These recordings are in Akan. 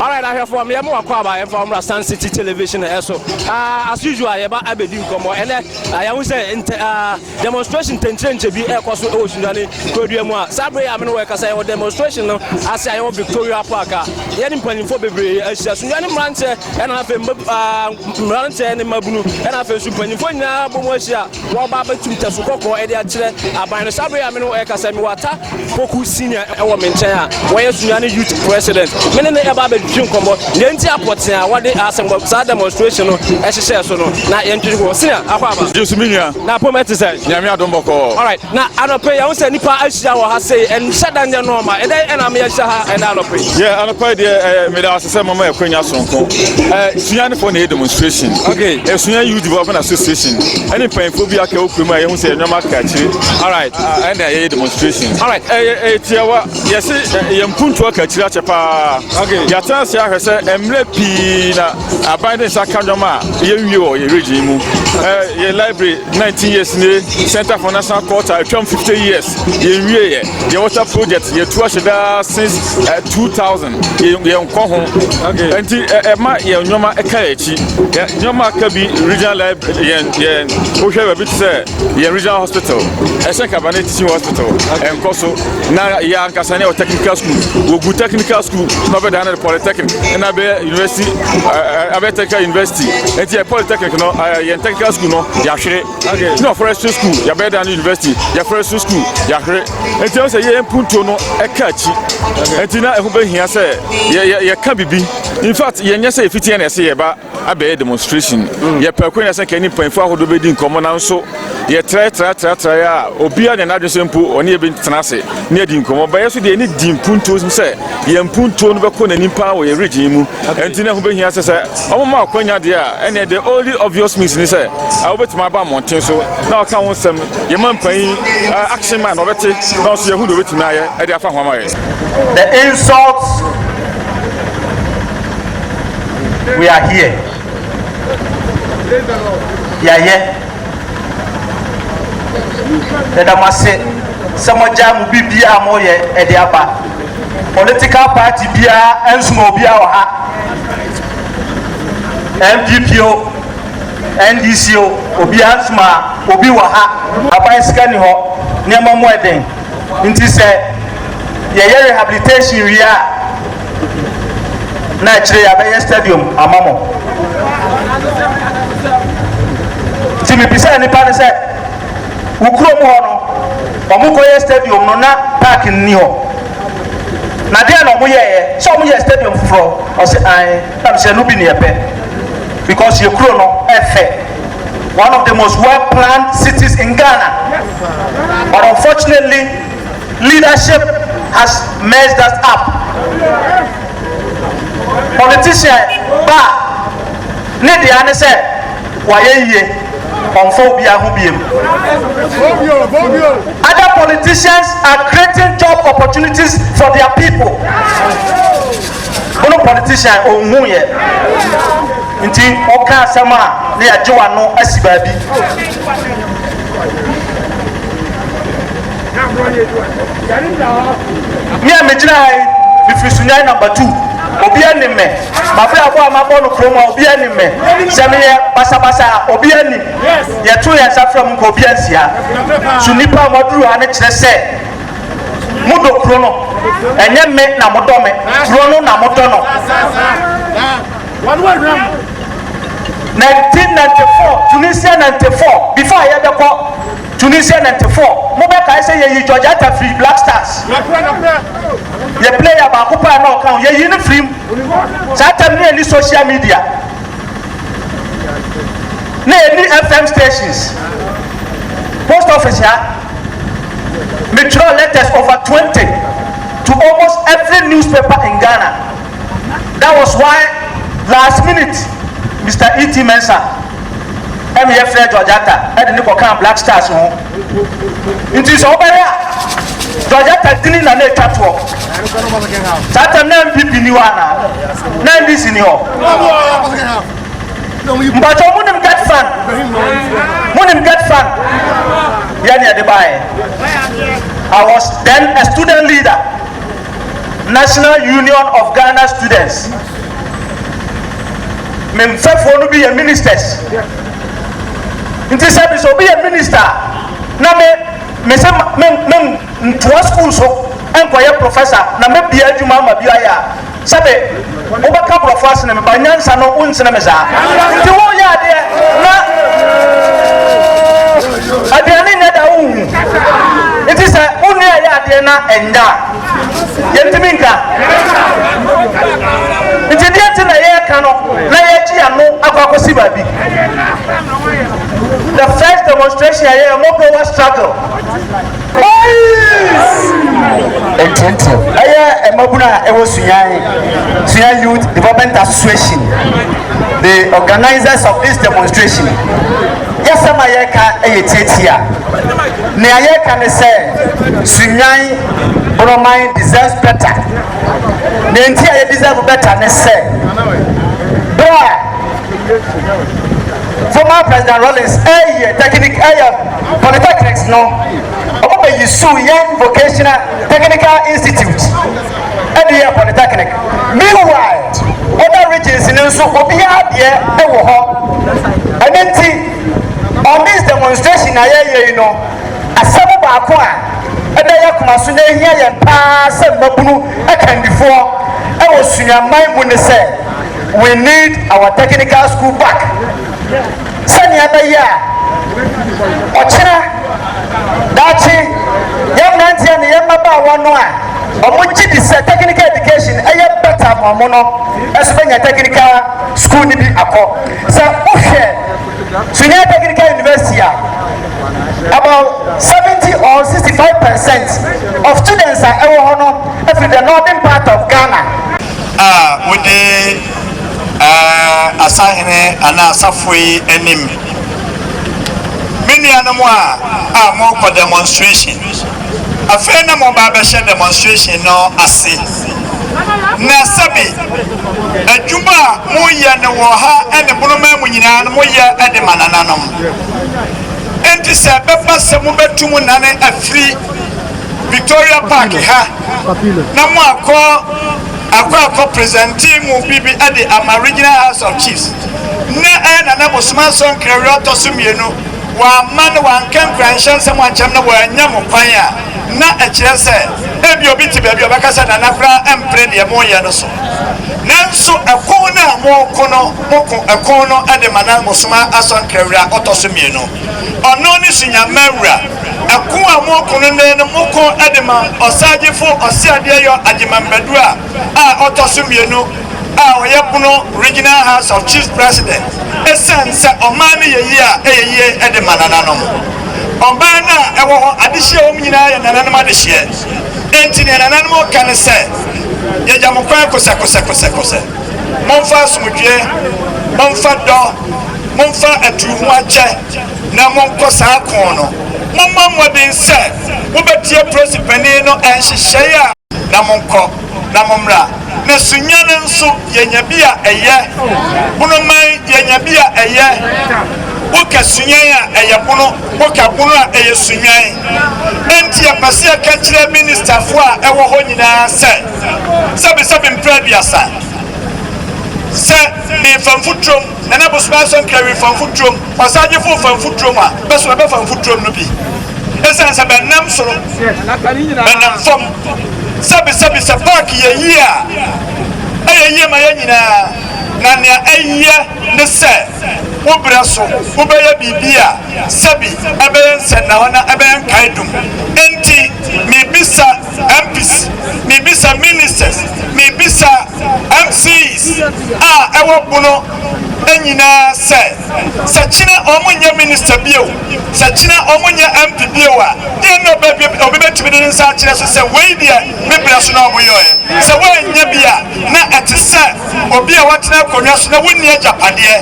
Alright ahwɛfo a meyɛ mo wakɔ aba yɛmfa wɔn mmra Sun City Television ɛso ah, as usual yɛba abɛdi nkɔmmɔ ɛnɛ ah, yɛahu sɛ ntɛ, ah, demonstration ntɛnkyerɛnkyɛ bi ɛrekɔ so ɛwɔ Sunyani kurodua mu a saa berɛ yi a me ne wɔ ɛkasa yɛwɔ demonstration no ase a yɛwɔ Victoria Park a yɛne mpanyinfoɔ bebree ahyia Sunyani mmeranteɛ ɛna afei mma, ah, mmeranteɛ ne mmabunu ɛna afei nso mpanyinfoɔ nyinaa bɔ mu ahyia Wɔreba abɛtu ntafuru kɔkɔɔ de akyerɛ aban no. Saa bere yi a me ne wo rekasa yi, mewɔ Ata Poku Senior wɔ me nkyɛn a wayɛ Sunyani Youth President. Me ne no reba abedwedwe nkɔmmɔ nea enti a pɔtee a wɔde asɛm saa demonstration no hyehyɛɛ so no. Na yɛntwetwe nkɔmmɔ. Senior, akwaaba. Gye so, me nua. Na apɔw mu ɛte sɛn? Nyame adom bɔkɔɔ. Alright. Na anɔpa yi, yɛahu sɛ nnipa ahyia wɔ ha sei. Ɛnhyɛ da nyɛ nɔɔma. Ɛdɛn na ama yɛahyia ha ɛnɛ anɔpa yi? Yeah, anɔpa yi deɛ eh, meda ase sɛ mama akwanya soronko. Eh, sua ne fo na ɛyɛ demonstration. Okay. Eh, sua youth development association. Ɛne mpanyinfoɔ bi aka okura mu a yɛhu sɛ nneɛma aka akyire. Alright. Ah, ɛna yɛyɛ demonstration. Alright. Ɛyɛ eh, eh, tiawa. Yɛse eh, yɛn mpuntuo aka akyire akyɛ paa. Okay. Yɛatena ase ahwɛ sɛ mmerɛ pii na Aban de nsa ka nneɛma a yɛnwie wɔ yɛn region yi mu. Eh, yɛn library 19 years nie, Center for National Culture atwam 50 years, yɛnwie yɛ. Yɛn water project yɛtu ahyɛ daa since eh, 2000, yɛn nkɔ ho. Nti ɛma eh, yɛn nneɛma ɛka yɛn akyi. Nneɛma aka bi regional library yɛn yɛn wohwɛ baabi te sɛ yɛn regional hospital, ɛsɛ nkabane teaching hospital, ɛnkɔ so. na yɛ ankasa ne wɔ technical school wɔgu technical school na ɔbɛdan no de polytechnic ɛna bɛyɛ university abɛyɛ technical university nti yɛ polytechnic no yɛn technical school no yɛahwere na forestry school yɛbɛyɛ dan no university yɛ forestry school yɛahwere nti ɛwɔ sɛ yɛyɛ mpuntuo no ɛka akyi nti na ɛho bɛhia sɛ yɛka biribi in fact yɛnyɛ sɛ yɛfitiɛ na ɛsɛ yɛba abɛyɛ demonstration. Yɛpɛ akwan nyinaa sɛ nka yɛne mpanyimfo ahodoɔ bɛdi nkɔmmɔ nanso yɛtrae trae trae trae a obiara nyɛ n'adwene sɛ mpo ɔne yɛ bɛtena ase ne adi nkɔmmɔ. Ba yɛn so deɛ yɛne di mpuntuo sɛ yɛn mpuntuo no bɛkɔ n'anim paa wɔ yɛn region yi mu nti na ɛho bɛhia sɛ sɛ wɔma akwanya deɛ a ɛneɛ the only obvious means ne sɛ wobɛtumi aba mmɔnten so na ɔka ho nsɛm yɛma mpanyin action man ɔbɛte na ɔso yɛhu deɛ ɔbɛtumi ayɛ de afa ho ama yɛn. The insults We are here. Yɛayɛ. Yɛda mo ase sɛ mogyaa mo biribiara a moyɛ ɛde aba. Political party biara ɛnsoma obiara wɔ ha. NPP o, NDC o, obiara nsoma obi wɔ ha. Aban sika ni hɔ, nneɛma mu ɛden. Nti sɛ yɛyɛ rehabilitation wie a na akyire yɛabɛyɛ stadium ama mo. Nti mebisaa nnipa no sɛ wo kurom hɔ no wɔn kɔyɛ stadium no na park nni hɔ na deɛ na wɔyɛeɛ sɛ wɔyɛ stadium foforɔ ɔse ae. Ɛnam sɛ ɛno bi na yɛpɛ because yɛn kuro no ɛfɛ, one of the most well planned cities in Ghana but unfortunately leadership has messed us up. Politician ba a ne dea ne sɛ wayɛ yie ɔmfa obiara ho biem. Other politicians are creating job opportunities for their people. Wono politician onhuu yɛ nti woka asɛm a na yɛagye wano asi baabi. Me a megyina ha yi mefiri Sunyani number two obiara nim me mabrabɔ a mabɔ no kurom ha obiara nim me sɛ meyɛ basabasa a obiara nim yɛto yɛn nsa frɛ mo nka obiara nsi ha so nnipa a moaduru ha no kyerɛ sɛ Modɔ kuro no, ɛnyɛ me na modɔ me, kuro no na modɔ no. 1994 Tunisia 94 before ayɛ bɛ kɔ Tunisia 94 mo bɛ kae sɛ yɛyi George Atta firi Black Stars yɛ player baako paa na ɔka ho yɛyi no firi mu saa tam ne ɛni social media ne ɛni FM stations post office ha Me twerɛ letters over twenty to almost every newspaper in Ghana that was why last minute Mister E T Mensah ɛna yɛ frɛ George Atta ɛde ne kɔ kaa Black Stars ho nti sɛ wobɛhwɛ a George Atta dini na na ɛtwa toɔ saa tɛm na NPP ni hɔ anaa na NDC ni hɔ. Mpakyɛw mo nim get fan? Mo nim get fan? Yɛ ne ɛde baayɛ. I was then a student leader, National Union of Ghana Students. Me mfɛfoɔ no bi yɛ ministers. Nti sɛ bi sɛ obi yɛ minister a, na me me sɛ me me ntoa school so nkɔyɛ professor na me bia adwuma ama bi ayɛ a Sɛbe wo bɛ ka brɔfo asene me but nyansa no wo nsene me saa nti wo yɛ adeɛ na aduane nyɛ da wo hu nti sɛ wo nua yɛ adeɛ na ɛnya yɛntimi nka nti deɛ nti na yɛka no na yɛgye ya no akɔ akɔsi baabi the first demonstration yɛ yɛ mɔbrɔ wa struggle Boys Ntontom. Ɛyɛ mmabunu a ɛwɔ Suyan, Suyan Youth Development Association, the organisers of this demonstration. Yɛsɛm a yɛreka yɛ tiatia. Nea yɛreka ne sɛ Suyan Borɔman deserves better. Nea nti a yɛ deserve better ne sɛ, berɛ a Former President Rawlings ɛyɛ technic ɛyɛ polytechnics no ɔmo bɛ yi su yɛn vocational technical institute ɛde yɛ polytechnic meanwhile other regions no nso obiara deɛ ɛwɔ hɔ ɛne nti on this demonstration a yɛyɛ yi no asɛm baako a ɛda yɛ akoma so na ehia yɛn paa sɛ mmabunu akandifoɔ ɛwɔ sunyamman mu ne sɛ We need our technical school back sɛnea ɛbɛyɛ a ɔkyena daakye yɛn mmeranteɛ ne yɛn mmabaawa no a wɔn gye di sɛ technical education ɛyɛ better ma wɔn no ɛso bɛnya technical school no bi akɔ sɛ wohwɛ sunyɛ technical university a about seventy or sixty five percent of students a ɛwɔ hɔ no ɛfiri the northern part of ghana. a wodi asahene anaa asafo yi anim. Me nuanom a a morekɔ demonstration, afei na moba abɛhyɛ demonstration no ase, na sɛbe adwuma a moyɛ no wɔ ha ne Bonoman mu nyinaa no moyɛ de ma nananom. Enti sɛ ɛbɛba sɛ mobɛtu mo nane afiri, Victoria Park ha na mo akɔ akɔ akɔ presente mo biribi de ama Regional House of Chiefs. Nnɛ ɛyɛ Nana Bosom Asɔ Nkrɛwerɛ ɔtɔ so mmienu. Wamma na wanka nkuranhyɛ nsɛm ankyerɛ mo na wannya mo kwan a, na ɛkyerɛ sɛ ebia obi te baabi a ɔbɛka sɛ Nana koraa mpene deɛ moreyɛ no so. Nanso ɛko no a moreko no, moko ɛko no de ma Nana Bosom Asɔ Nkrɛwerɛ a ɔtɔ so mmienu. Ɔno ne Sunyamma Wura. Ɛko a moreko no nnɛ no moko de ma Ɔsaagyefo Ɔseadeɛyɔ Agyemang Badua a ɔtɔ so mmienu a ɔyɛ Bono Regional House of Chiefs President esiane sɛ ɔman no yɛ yie a ɛyɛ yie de ma nananom. Ɔman no a ɛwɔ hɔ adehyeɛ a ɛwɔ mu nyinaa yɛ nananom adehyeɛ enti nea nananom reka ne sɛ yɛgya mo kwan kosɛkosɛkosɛkosɛ momfa asomdwoeɛ, momfa dɔ, momfa atuuhoakyɛ. na monkɔ saa ko no. Mommɔ mmɔden sɛ mobɛtie polisi panin no nhyehyɛe a. Na monkɔ, na mommra. Na sunya no nso, yɛanya bi a ɛyɛ. Bono man, yɛanya bi a ɛyɛ. Woka sunyan a, ɛyɛ bono. Woka bono a, ɛyɛ sunyan. Enti yɛpɛ sɛ yɛka kyerɛ ministafo a ɛwɔ hɔ nyinaa sɛ, sɛbesɛbe mprɛ aduasa, sɛ merefa mfuturom. Nana Bosome Anso Nkrɛwi fa mfuturom, Ɔsaagyefo fa mfuturom a bɛso ɛbɛfa mfuturom no bi. Esiane sɛ bɛnnam soro, bɛnam fam, sɛbesɛbe sɛ paaki yɛ yie a, ɛyɛ yie ma yɛn nyinaa, na nea ɛyɛ ne sɛ wo berɛ so wobɛyɛ biribi a sɛbi ɛbɛyɛ nsɛnnahɔ na ɛbɛyɛ nkaedum. Enti mebisa. MPs, mebisa Ministers, mebisa MCs a ɛwɔ Bono nyinaa sɛ, sɛ kyena wɔn nyɛ Minister bio, sɛ kyena wɔn nyɛ MP bio a, deɛn na obi bɛtumi de ne nsa akyerɛ so sɛ wei deɛ me berɛ so na wɔyɔɛ? Sɛ wɔannya bi a, na ɛte sɛ obi a watena akonnwa so na wonni agyapadeɛ,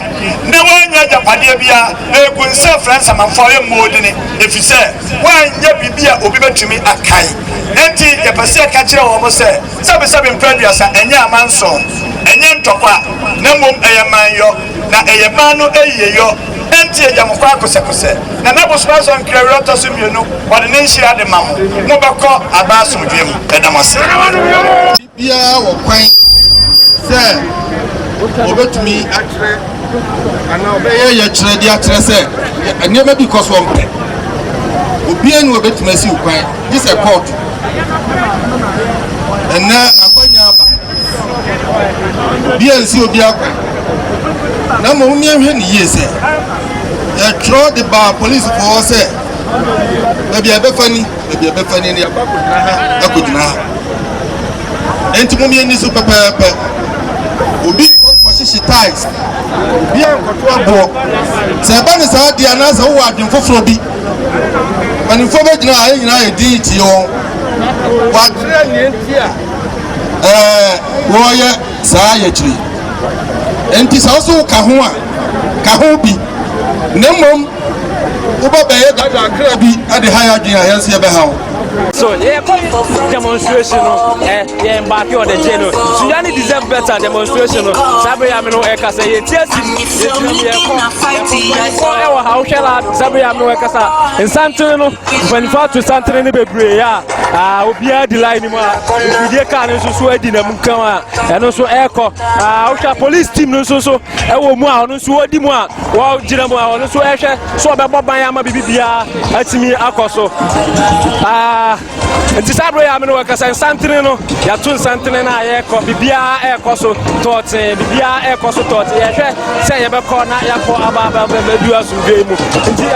na wannya agyapadeɛ biara, na ɛgu nsa frɛ nsamanfoɔ a ɛmmɔɔ dini, ɛfiri sɛ. wɔanyɛ biribi a obi betumi akae. Enti yɛpɛ sɛ yɛka kyerɛ wɔn sɛ, sɛbesɛbe mpɛn aduasa ɛnyɛ amanson, ɛnyɛ ntɔkwa, na mmom ɛyɛ manyɔ, na ɛyɛ man no ayiyeyɔ. Enti yɛgya mo kwan kosɛkosɛ, na na bosome ason nkerawiri a ɛtɔ so mmienu wɔde ne nhyira de ma mo. Mobɛkɔ aba asomdwoe mu. Yɛda mo ase. Obiara wɔ kwan sɛ ɔbɛtumi akyerɛ anaa ɔbɛyɛ yɛkyerɛ de akyerɛ sɛ nneɛma bi kɔ soɔ mpɛ. Obiara ni ɔbɛtumi asiw kwan gye sɛ kɔɔto. Ɛnnɛ akwanya aba. Obiara nsi obiara kwan. Na mmom yɛnhwɛ ne yie sɛ yɛtwerɛ de baa polisfoɔ hɔ sɛ baabi a ɛbɛfa ni. baabi a ɛbɛfa ni, na yɛaba akɔgyina ha, akɔgyina ha. Enti mo mmieni so pɛpɛɛpɛ. Obi nkɔhyehye tiles, obi ankɔto aboɔ. Sɛ ɛba ne saa deɛ anaasɛ wowɔ adwene foforɔ bi, mpanimfoɔ bɛgyina ha, yɛn nyinaa yɛ din tie wɔn. Wɔakyerɛ nea nti a ɛɛ wɔyɛ saa yɛkyiri. Enti sɛ wo so ka ho a, ka ho bi. Na mmom Wobɛbɛyɛ dada akra bi de ha yɛ adwene a, yɛn nso yɛbɛha wo. So yɛkɔ demonstration no ɛ yɛn mbaaki on the day no suya ne deserve better demonstration no saa bere yam no ɛka sɛ yɛ tie si yɛgyina mu yɛkɔ mpanyinfoɔ ɛwɔ ha wohwɛ la saa bere yam no ɛka sa nsantere no mpanyinfoɔ ato santere no bebree a aa obiara di line mu a ofidie kaa no nso so adi na mu kan a ɛno nso ɛkɔ aa wohwɛ police team no nso so. ɛwɔ mu a ɔno nso wɔdi mu a wɔgyina mu a ɔno nso ɛhwɛ sɛ ɔbɛbɔ ban ama biribi biara atumi akɔ so nti saa berɛ yɛ amene wɔkasa nsantene no yɛato nsantene no a yɛkɔ biribiara ɛrekɔ so tɔɔtee biribiara ɛrekɔ so tɔɔtee yɛhwɛ sɛ yɛbɛkɔ na yɛakɔ aba abɛbɛdu asomdwee mu nti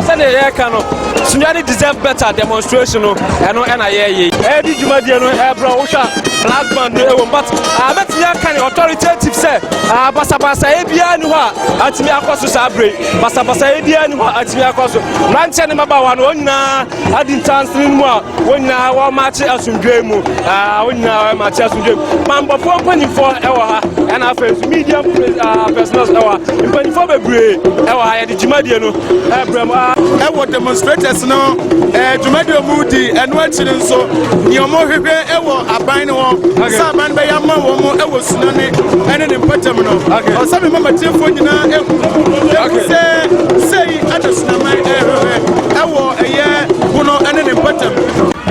sɛdeɛ yɛreka no Sunyɛ ne deserve better demonstration no ɛno ɛna yɛyɛ yi. Ɛyɛ di dwumadie no ɛbrɛ wohwɛ a brass band no ɛwɔ mu but abɛtumi ah, aka ne authoritative sɛ ah, basabasayɛ biara ni hɔ a atumi akɔ so saa bere basabasayɛ biara ni hɔ a atumi akɔ so mmeranteɛ ne mmabaawa no wɔn nyinaa adi ntansene mu a wɔn nyinaa wɔmakye asomdwoe mu ah, wɔn nyinaa wɔmakye asomdwoe mu bambɔfoɔ mpanimfoɔ ɛwɔ ha ɛna afei nso media personals ɛwɔ ha mpanimfoɔ bebree ɛwɔ ha yɛde dwumadie no ɛbrɛm a ɛwɔ demonstrators no ɛɛ dwumadi a wɔn di ɛno akyi no nso nea wɔn hwehwɛ ɛwɔ aban no hɔ sɛ aban bɛyɛ ama wɔn ɛwɔ tsunami ɛne ne mpɔtam no ɔsɛ mi mama tiefo nyinaa ehu ehu sɛ sɛyi ɛna tsunami ɛhwehwɛ ɛwɔ ɛyɛ pono ɛne ne mpɔtam.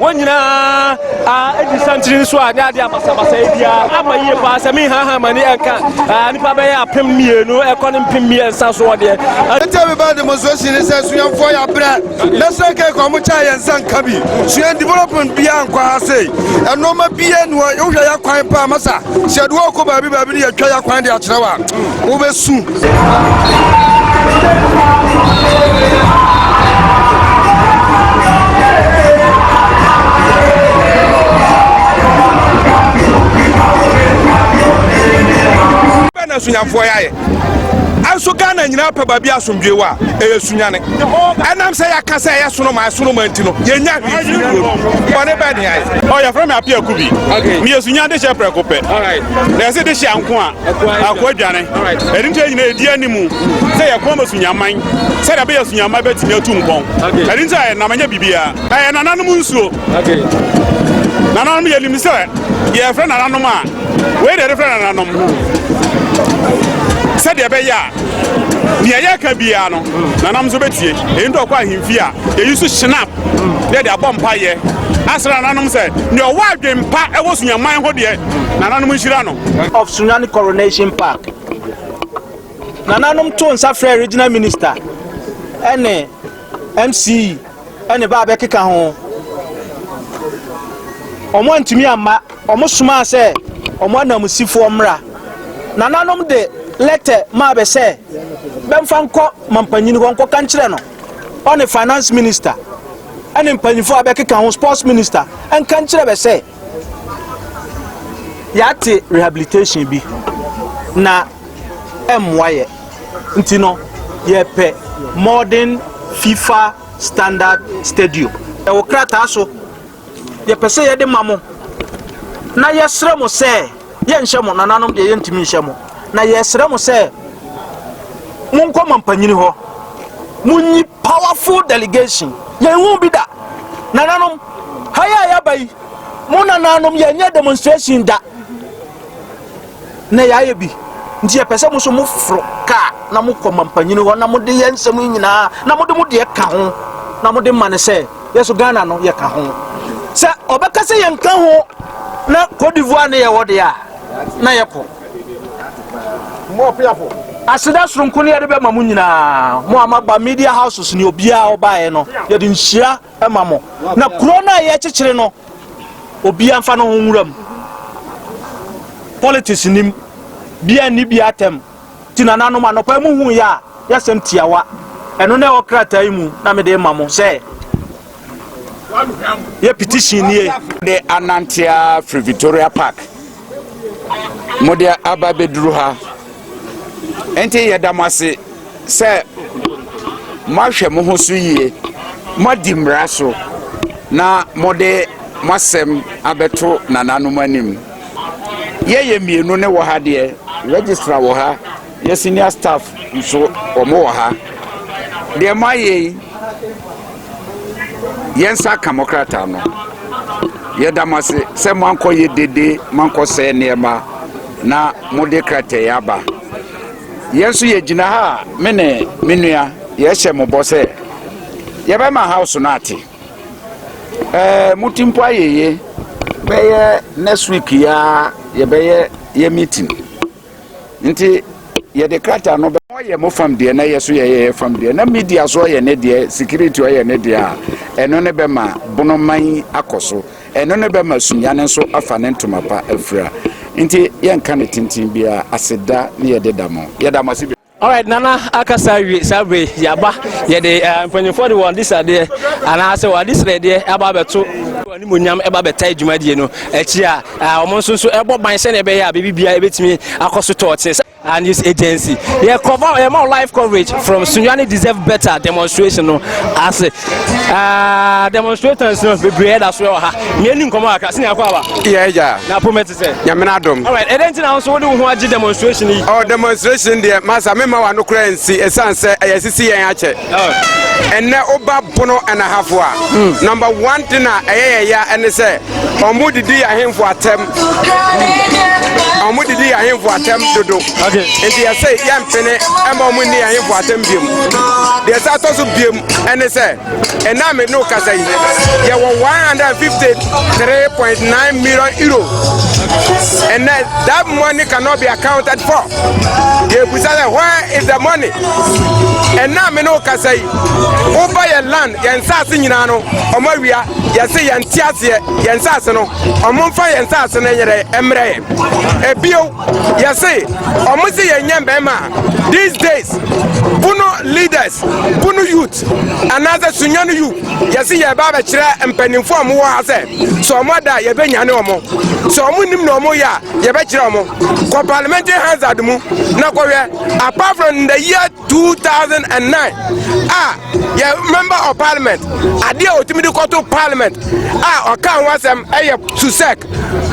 wɔn nyinaa adi santiri nso a ne ade abasabasa yi biara ama yie paa sɛ mehaha ma ne ɛnka nnipa bɛyɛ apem mmienu ɛkɔ ne mpem mmiɛnsa soɔ deɛ ɛtɛ bi ba demonstration ne sɛ suafoɔ yɛ abrɛ Mɛsrɛ kɛ nka ɔmo kyɛ yɛn nsa nka bi. Sua development biaa nkɔ ha sei. Ɛnoɔma biaa ni hɔ wohwɛ yɛ kwan paa masa. Sɛ yɛde wo kɔ baabi baabi ne yɛtwa yɛ kwan de akyerɛ wo a, wobɛsu. Bɛn na asunyamfoɔ yɛ ayɛ? nso ghana nyinaa pɛ baabi asomdwoe wɔ a ɛyɛ sunyane ɛnam sɛ yɛaka sɛ ɛyɛ sonoma ɛsonoma nti no yɛnya bɔne bɛ ne ayɛ ɔyɛfrɛ me ape aku bi meyɛ sunya de hyɛ prɛko pɛ na ɛse de hyɛ anko a ako adwane ɛde nti nyina ɛdi ani mu sɛ yɛkoa ma sunyaman sɛdeɛ bɛyɛ sunyaman bɛtumi atu mpɔn ɛde nti a ɛnam ɛnyɛ biribiaa ɛyɛ nananom nsuo Okay. Nananom yɛ nim sɛ yɛ fɛ nananom a wei deɛ de fɛ nananom sɛ deɛ bɛyɛ a deɛ yɛ ka biara no nananom nso bɛtie ɛyi nti ɔkɔ ahemfie a yɛyi so shinap deɛ de abɔ mpa yɛ asra nananom sɛ deɛ ɔwɔ adwen pa ɛwɔ sunyaman ho deɛ nananom nhyira no of sunyani coronation park nananom to nsa frɛ regional minister ɛne mce ne ba bɛkeka ho. Wɔantumi amma wɔsomaa sɛ wɔn ananmusifoɔ mmra. Nananom de lɛtɛ maa bɛ sɛ bɛmfa nkɔ mampanyini hɔ nkɔka nkyerɛ no, ɔne Finance Minister ne mpanyimfoɔ a bɛkeka ho, Sports Minister, nka nkyerɛ bɛ sɛ, Yɛate rehabilitation bi na ɛmmoa yɛ nti no yɛpɛ modern fifa standard stadium. Ɛwɔ krataa so. Yɛpɛ sɛ yɛde ma mo na yɛsrɛ mo sɛ. Yɛnhyɛ mo, nananom deɛ yɛntumi nhyɛ mo, na yɛsrɛ mo sɛ monkɔ mo mpanyini hɔ, monyi powerful delegation. Yɛnhu bi da. Nananom, ha yɛ a yɛaba yi, mo nananom yɛnyɛ demonstration da. Na yɛayɛ bi. Nti yɛpɛ sɛ mo so moforo kaa na mokɔ mo mpanyini hɔ na mode yɛ nsɛm yi nyinaa na mode mo deɛ ka ho na mode ma ne sɛ yɛ so ghana no yɛka ho sɛ ɔbɛka sɛ yɛnka ho na cote divoire ne yɛwɔ deɛ a na yɛkɔ aseda soronko ne yɛde bɛma mo nyinaa mo a maba media houses ne obiara ɔbaeɛ no yɛde nhyira ma mo na kuro no a yɛkyekyere no obiara mfa no ho nwura mu politics nim bia nni bia atɛm Nti nananom, anɔpa yi muhuu yɛ a yɛ asɛm tiawa, ɛno na ɛwɔ krataa yi mu na mede rema mo sɛ yɛ petition nie. De anante ara firi Victoria Park, mode aba bɛduru ha. Nti yɛda mo ase sɛ moahwɛ mo ho so yie, moadi mmara so na mode mo asɛm abɛto nananom anim. Yɛ yɛ mmienu ne wɔ ha deɛ registrar wɔ ha yɛ senior staff nso wɔn wɔ ha deɛ mo ayɛ yi yɛn nsa aka mo krataa no yɛda mo ase sɛ mo ankɔ yɛ dede mo ankɔ sɛ nneɛma na mo de krataa yi aba yɛn nso yɛ gyina ha a me ne me nua yɛhyɛ mo bɔ sɛ yɛbɛma house no ate. Ɛɛ, mo ti mpo ayeye. Bɛyɛ next week yi ara yɛbɛyɛ yɛ meeting. Nti yɛde krataa no bɛ. Ɔyɛ mo fam deɛ na yɛ so yɛyɛ yɛ fam deɛ na media so ɔyɛ ne deɛ security ɔyɛ ne deɛ a ɛno ne bɛma bonoman akɔ so ɛno ne bɛma sunya no nso afa ne ntoma pa afira nti yɛnka ne tenten biara aseda ne yɛde da mo yɛda mo ase Alright, Nana akasa awie saa bere yi aba yɛde eh, mpanyinfoɔ de wɔn adisadeɛ anaasɛ wɔn adesrɛdeɛ aba abɛto animonyam ɛba bɛta adwumadie no akyi a ah, wɔn nso nso ɛbɔ ban sɛnea ɛbɛyɛ a biribi biara ɛbɛtumi akɔ so tɔɔte and news agency yɛ cover yɛ ma live coverage from sunyani deserve better demonstration no ase ah, demonstrators no bebree ɛda so ɛwɔ ha Mmea ni nkɔmɔ kakra. Sini akɔ aba. Yɛ agya. Na pome te sɛ. Nyamena adom. Alright, ɛdɛ nti na nso wode wo ho agye demonstration yi? Oh, demonstration deɛ, masa memma wano koraa nsi, ɛsiane sɛ ɛyɛ sisi yɛn akyɛ. Oh. Ɛnɛ woba bono ɛnahafo a, hmm. number one thing a ɛyɛ yɛ ya ɛne sɛ, ɔmo didi ahemfo atɛm. Ɔmo didi ahemfo atɛm dodo. Okay. Nti yɛsɛ yɛmpene ɛma ɔmo nni ahemfo atɛm biom. Deɛ ɛsɛ atɔ so biom ɛne sɛ, Ɛnnɛ a mene wo kasa yi, yɛwɔ 153.9 million euro. And then that money cannot be accounted for. They will say, where is the money? And now me no can say, over your land, your nsase nyina no, omo wia, your say your ntiase, your nsase no, omo fa your nsase no yere emre. Ebio, Yɛse ɔmo se yɛn nyɛ mmarima a these days bunu leaders bunu youth anaasɛ sunyani you yɛse yɛ ba abɛkyerɛ mpanimfo a ɔmo wɔ ha sɛ sɛ ɔmo ada yɛbɛ nyane ɔmo sɛ ɔmo nim na ɔmo yɛ a yɛbɛkyerɛ ɔmo kɔ parliamentary hazard mu na kɔhwɛ apart from the year 2009 a yɛ member of parliament adeɛ a ɔtumi de kɔto parliament a ɔka ho asɛm ɛyɛ susek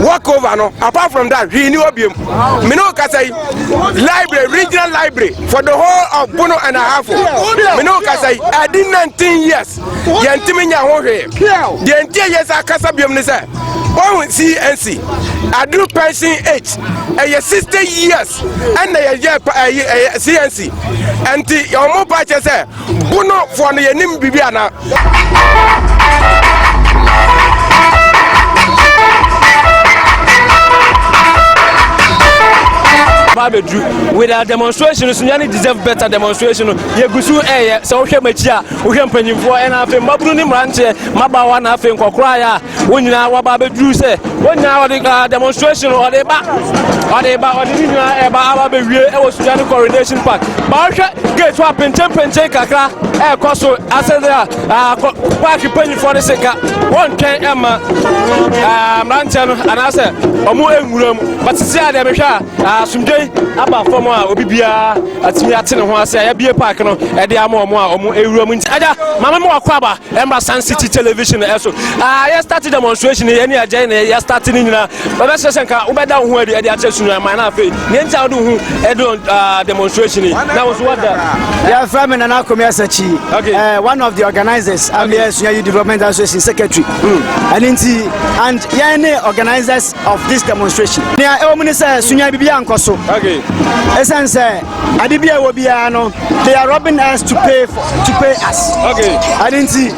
work over no apart from that hwee ni hɔ biom mene wo kasa yi library regional library for the whole of bono and ahafo mene wo kasa yi ɛde 19 years yɛntumi nya ho hwee deɛ nti ɛyɛ sɛ akasa biom ne sɛ wɔhu cnc aduru pension age ɛyɛ 60 years ɛna yɛyɛ ɛyɛ cnc ɛnti wɔn ba kyɛ sɛ bono foɔ no yɛnim biribi ana paa bɛduru with our demonstration so yɛne deserve better demonstration no yɛgu so ɛyɛ sɛ wohwɛ makyi a Wohwɛ mpanyimfoɔ na afei mmabunu ne mmeranteɛ, mmabaawa na afei nkɔkoraeɛ a wɔn nyinaa wɔaba abɛduru sɛ wɔn nyinaa wɔde uh, demonstration wɔde ba wɔde ba wɔde ne nyinaa ɛba aba abɛwie ɛwɔ Sudan ne Coronation Park ma wɔhwɛ gate hɔ a pentenpenten kakra ɛrekɔ so asɛde a uh, paaki mpanyimfoɔ no se ka wɔntwɛn ɛma uh, mmeranteɛ no anaasɛ wɔn nwura mu but sisi a deɛ mehwɛ a na asomdwei aba fam a obi biara atumi ate ne ho ase a yɛbie park no ɛde ama wɔn a wɔn awura mu nti agya maame mo akɔ aba ɛmra san city television ɛso a yɛ start demonstration yɛ ne agya na yɛ start ne nyinaa bɛbɛsɛ sɛ nka wobɛda wo ho adi ɛde akyɛ sunu ama na afei nea nti a wode ho ɛde demonstration yi na wo so wada yɛfrɛ me nana akomi asakyi okay. uh, one of the organizers ameyɛ okay. suayi development association secretary ɛne hmm. nti and yɛn ne organizers of this demonstration. Nea ɛwɔ mu ne sɛ sunya bibi ankɔ so. Okay. Ɛsɛn sɛ ade bi a ɛwɔ biara no they are robbing us to pay for, to pay us. Okay. Ade nti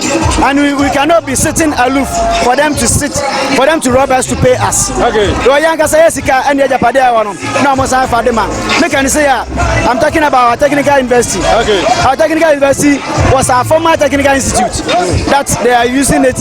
and we, we cannot be sitting aloof for them to sit for them to rob us to pay us. Okay. Lɔ yɛn ankasa yɛ sika ɛne ɛgyapade a ɛwɔ no na wɔn san fa de ma. Ne kan se ya I'm talking about our technical university. Okay. Our technical university was our former technical institute that they are using it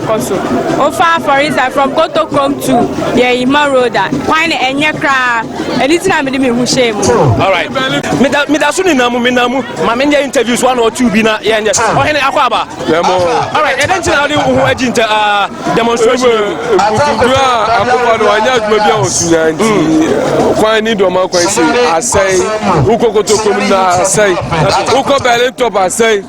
kɔ so. Wofa Afɔrisa from Kotokrom to Yɛima road a, kwan no ɛnyɛ koraa. Ɛno nti na mede me ho hyɛɛ mu. Alright. Meda meda so nina mu mena mu ma menyɛ interviews one or two bi na yɛnyɛ. Ɔhene akɔ aba. Alright. Ɛdɛn nti na wode wo ho agyi nta ah, demonstration yi mu? Nkunkun a akokɔ no wanyɛ adwuma bi a ɔsunya nti kwan ni dɔma kwan si asɛe wokɔ Kotokrom na asɛe wokɔ Berlin top asɛe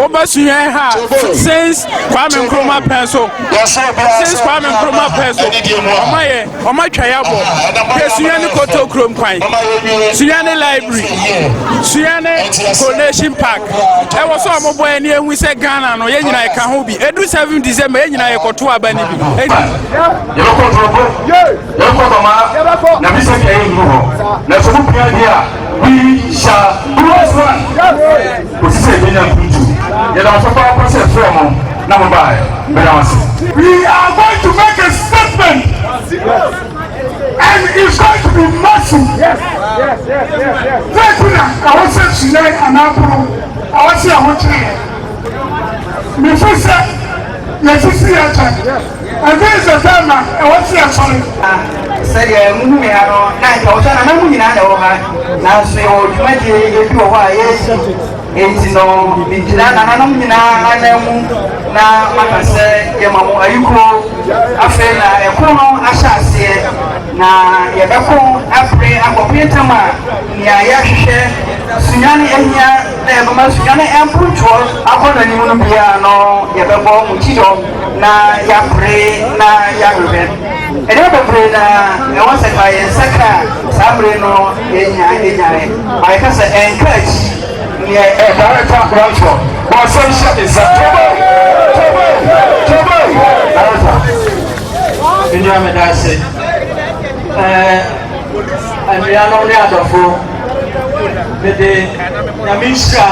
Oba sunyɛn ha since Kwame Nkrumah pɛn so since Kwame Nkrumah pɛn so ɔma yɛ ɔma twa yɛ abɔ yɛ sunyɛn ne koto kurom kwan sunyɛn ne library sunyɛn ne coronation park ɛwɔ sɛ ɔmo bɔ yɛ ne ehu sɛ Ghana no yɛ nyinaa ɛka ho bi edu seven December yɛ nyinaa yɛ kɔto aba ne bi. yɛbɛkɔ ntorɔfo yɛbɛkɔ bama na bi sɛ kɛyɛ nnu hɔ na sɛ mo pia deɛ a we shall do as one. Kosi sɛ yɛbɛnya nkurutu. Yɛda mo ase papaapa sɛ yɛfrɛɛ mo na mo baeɛ. Meda mo ase. We are going to make a statement and it's going to be massive. Yes, yes, yes, yes, yes. Dɛ ti na ɛwɔ sɛ sunyɛ anaa poro ɛwɔ sɛ ɛho kyerɛ yɛ. Mefi sɛ Yɛasisi yɛn akyɛde. Afei sɛ sɛn na ɛwɔ sɛ yɛsɔre? Na sɛdeɛ mohu me ha no, na anka wɔhwɛ na na mo nyinaa na ɛwɔ ha, nanso yɛwɔ dwumadie bi wɔ hɔ a yɛresi, enti no megyina nananom nyinaa ananmu na maka sɛ yɛma mo ayukuo. Afei na ɛko no ahyɛ aseɛ, na yɛbɛko apere akɔpem tam a nea yɛrehwehwɛ, sunyane, ahia. Na yɛbɛma sika ne mpontoɔ akɔnnɔ no mu no biara ano, yɛbɛbɔ mo ti dɔm, na yɛapere na yɛahwehwɛ nneɛma bebree na ɛwɔ sɛ ka yɛn nsa ka saa bere no yɛnya anyae ma yɛka sɛ ɛnka akyi neɛ ɛdarekta wɔntɔ bɔ ɔsɛm hyɛ me nsa tɔbɔ tɔbɔ tɔbɔ darekta nnuamedase ɛɛ anuanom ne adɔfo Mede Nyame nhyira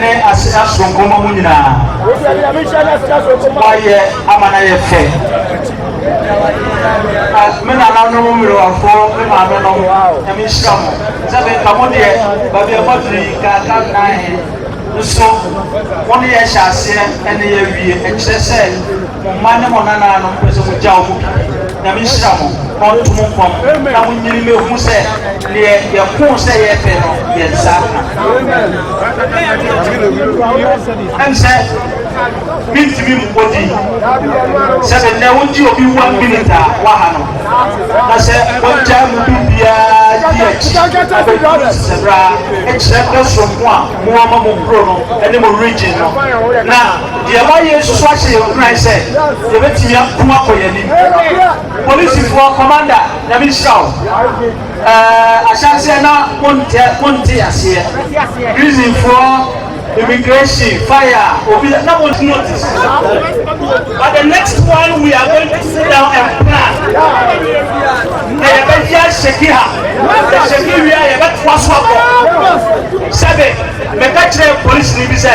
ne asena soronko ma mo nyinaa. Moayɛ ama no ayɛ fɛ. Me nananom mmerewafo, me maame no, Nyame nhyira mo. Sɛ menka mo deɛ, baabi a moaduru yi, kaaka nnan nso, mo ne yɛhyɛ aseɛ ne yɛawie. Ɛkyerɛ sɛ Mo mma ne mo nananom mpɛ sɛ mogyaw mo bi. Nyame nhyira mo na ɔnto mo mpɔn na monyini mɛhu sɛ neɛ yɛkoo sɛ yɛɛpɛ no yɛnsa ka. Ɛm sɛ mentimi mmɔ din sɛ me nnɛ wogye obi one minute a waha no na sɛ wɔgyae mo bi biaa di akyi abɛduru sesɛ bra ɛkyerɛ dɔ soronko a mowɔ ma mo kuro no ne mo region no na Deɛ ɛwɔ ha yei nso so ahyɛ yɛn nkuran sɛ yɛbɛtumi ako akɔ yɛn anim. Polisifoɔ kɔmanda, Nyame nhyira wo. Eh, ahyɛaseɛ na montɛ monte aseɛ. Prisonfoɔ, immigration, fire, obi na mo notice. But the next one we are going to sit down and plan. Na yɛbɛyɛ ahyɛki ha. Yɛhyɛki wie a yɛbɛtoa so akɔ. Sɛbe, meka kyerɛ polisi ni bi sɛ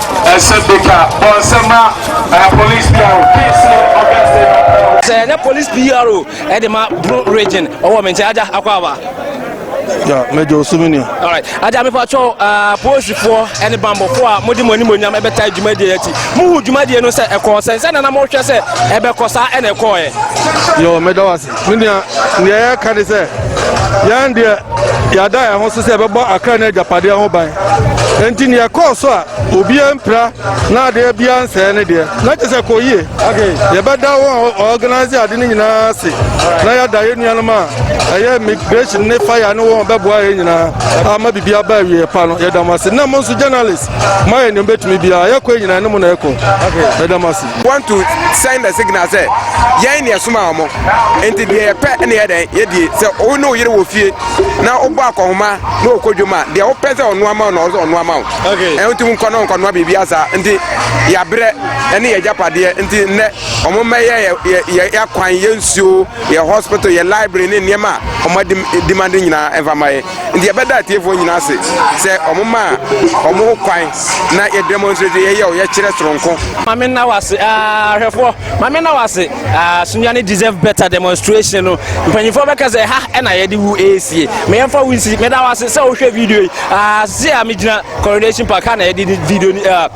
Asɛmpeka Bonsɛma eh, Police Bureau, DC, Ogun State of Ghana. Sɛ ne Police Bureau ɛde ma Bro Region ɔwɔ me nkyɛn agya akɔ aba. Ya, mɛgya osumi ni. Alright, agya mefa kyɛw uh, ah, polisifoɔ ɛne bambɔfoɔ a mode mo animonyam ɛbɛta dwumadie akyi. Muhu dwumadie no sɛ ɛkɔɔ sɛ sɛ nana mohwɛ sɛ ɛbɛkɔ saa ɛna ɛkɔɔɛ. Yo, mɛda wase. Me nua, nea yɛreka ne sɛ, yɛn deɛ, yɛada yɛn ho so sɛ yɛbɛbɔ akra ne agyapadeɛ ho ban. Enti nea ɛkɔɔ so a obiara mpira na adeɛ biara nsɛe ne deɛ, na kyerɛ sɛ ɛkɔɔ yie. Yɛbɛda wɔn a wɔorganise ade no nyinaa ase, na yɛada yɛn nuanom a ɛyɛ immigration ne fire ne wɔn a wɔbɛboa yɛn nyinaa ama biribi aba awieeɛ pa no, yɛda mo ase. Na mo nso journalists, moayɛ nea mobɛtumi biara. Yɛkɔ yi nyinaa, ɛne mo na ɛkɔ. Yɛda mo ase. want to send a signal sɛ yɛn ne ɛsoma wɔn nti deɛ yɛpɛ ne yɛ dɛn yɛdie sɛ wo ne wo yere wɔ fie na wobɔ akɔhoma na ɔkɔ dwom a deɛ wopɛ sɛ ɔnoa ma wo na ɔsɛ ɔnoa ma wo ɛho nti nkɔ na ɔnkɔnoa biribi asa nti yɛabrɛ ɛne yɛ agyapadeɛ nti nnɛ wɔn mmɛyɛ yɛ akwan yɛ nsuo yɛ hospital yɛ library ne nneɛma a wɔn adi dimande nyinaa ɛmfa ma yɛ Nti yɛbɛda atiefoɔ nyinaa ase sɛ wɔn maa wɔn ho kwan na yɛ demonstrate yɛyɛ o yɛkyerɛ soronko. Maame nna wo ase aa hwɛfoɔ maame nna wo ase aa sunya ne deserve better demonstration no mpanyinfoɔ bɛka sɛ ha ɛna yɛde wu eesie meyɛ nfa wo nsi meda wo ase sɛ wohwɛ video yi aa se a megyina coronation park ha na yɛde video ni aa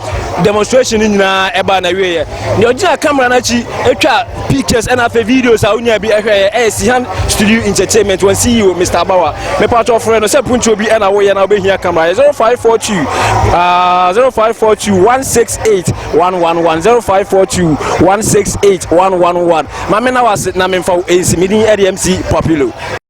demonstration no nyinaa ɛba na wieɛ. deɛ ɔgyina camera no akyi atwa pictures ɛna afei videos a wonya bi ɛhwɛ yɛ ɛyɛ sihan studio entertainment wɔn ceo mr abawa mepatɔ frɛ no sɛ puntuo bi ɛna woyɛ na wobɛhia camera yɛ 0542 uh, 0542 168 111 0542 168 111 ma me na wase na memfa wo ɛnsi medin ɛde mc populo